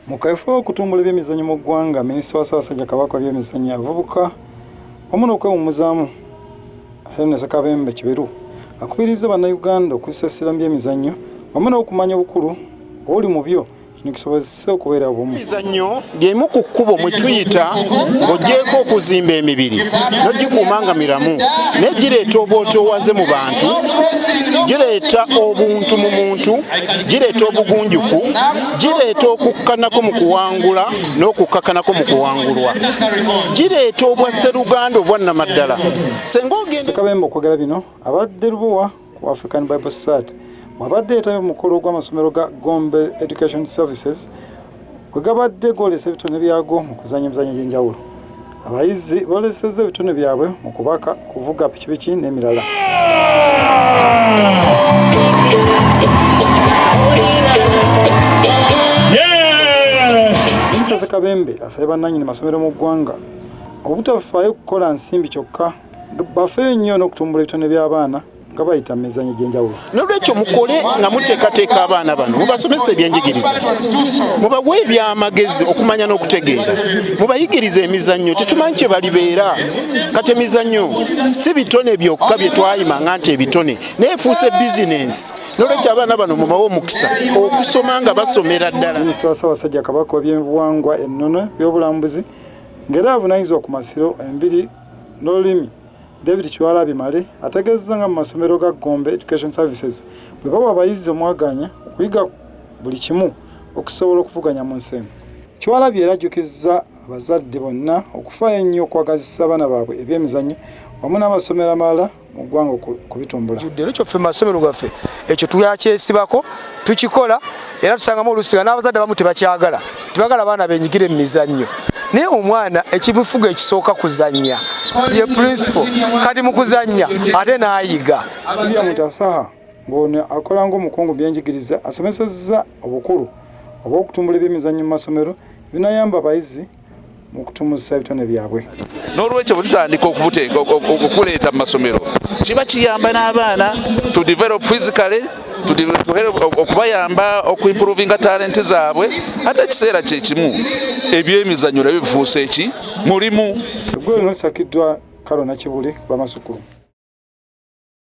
Mu kaweefube w'okutumbula ebyemizannyo mu ggwanga, minisita wa Ssaabasajja Kabaka w'ebyemizannyo abavubuka wamu n'okwewummuzaamu Hellen Ssekabembe Kiberu akubirizza Bannayuganda okussa essira mu byemizannyo wamu n'okumanya obukulu obuli mu byo kino kisobozese okubeera obumu emizannyo lyemu ku kkubo mwe tuyita ng'ogyeko okuzimba emibiri nogikuuma nga miramu naye gireeta obwotoowaze mu bantu gireeta obuntu mu muntu gireeta obugunjufu gireeta okukkanako mu kuwangula n'okukkakanako mu kuwangulwa gireeta obwa sseruganda obwannamaddala senga ogensekabembe okwogera bino abadde lubowa ku african bible society wabadde yetabye mukulu ogw'amasomero ga gombe education services wegabadde gwolesa ebitone byago mu kuzanya emizanyo egyenjawulo Abayizi boolesezza ebitone byabwe mu kubaka, kuvuga pikipiki n'emirala. Minisita Ssekabembe asabye bannannyini masomero mu ggwanga obutafaayo kukola nsimbi kyokka bafeeyo nnyo n'okutumbula ebitone by'abaana nga bayita mu mizanyo egy'enjawulo n'olwekyo mukole nga muteekateeka abaana bano mubasomesa ebyenjigiriza mubawe ebyamagezi okumanya n'okutegeera mubayigiriza emizannyo tetumanyi kye balibeera kati emizannyo si bitone byokka bye twayima nga nti ebitone naye efuuse bizinensi n'olwekyo abaana bano mubawe omukisa okusoma nga basomera ddala minisita wa ssaabasajja kabaka w'ebyenbuwangwa ennono by'obulambuzi ng'era avunanyizibwa ku masiro embiri n'olulimi David Kiwalabye Male ategeezezza nga mu masomero ga Gombe Education Services bwe bawa abayizi omwagaanya okuyiga buli kimu okusobola okuvuganya mu nsi eno. Kiwalabye era ajjukizza abazadde bonna okufaayo ennyo okwagazisa abaana baabwe ebyemizannyo wamu n'amasomero amalala mu ggwanga okubitumbula. Leero ffe mu masomero gaffe ekyo twakyesibako. tukikola era tusangamu oluusi nga n'abazadde abamu tebakyagala tebagala abaana benyigire mu mizannyo naye omwana ekibifuga ekisooka kuzannya ye principal kati mu kuzannya ate n'ayiga mutasaha ng'ono akola ng'omukungu byenjigiriza asomesezza obukulu obw'okutumbula ebyemizannyo mu masomero ebinayamba abayizi mu kutumusisa ebitone byabwe. N'olwekyo bwe tutandika okubuteeka okuleeta mu masomero kiba kiyamba n'abaana to develop physically okubayamba okuimprovinga talenti zaabwe ate ekiseera kyekimu ebyemizanyo nabyo bifuusa eki mulimu eggulo lino lisakiddwa kalona kibuli lwamasukulu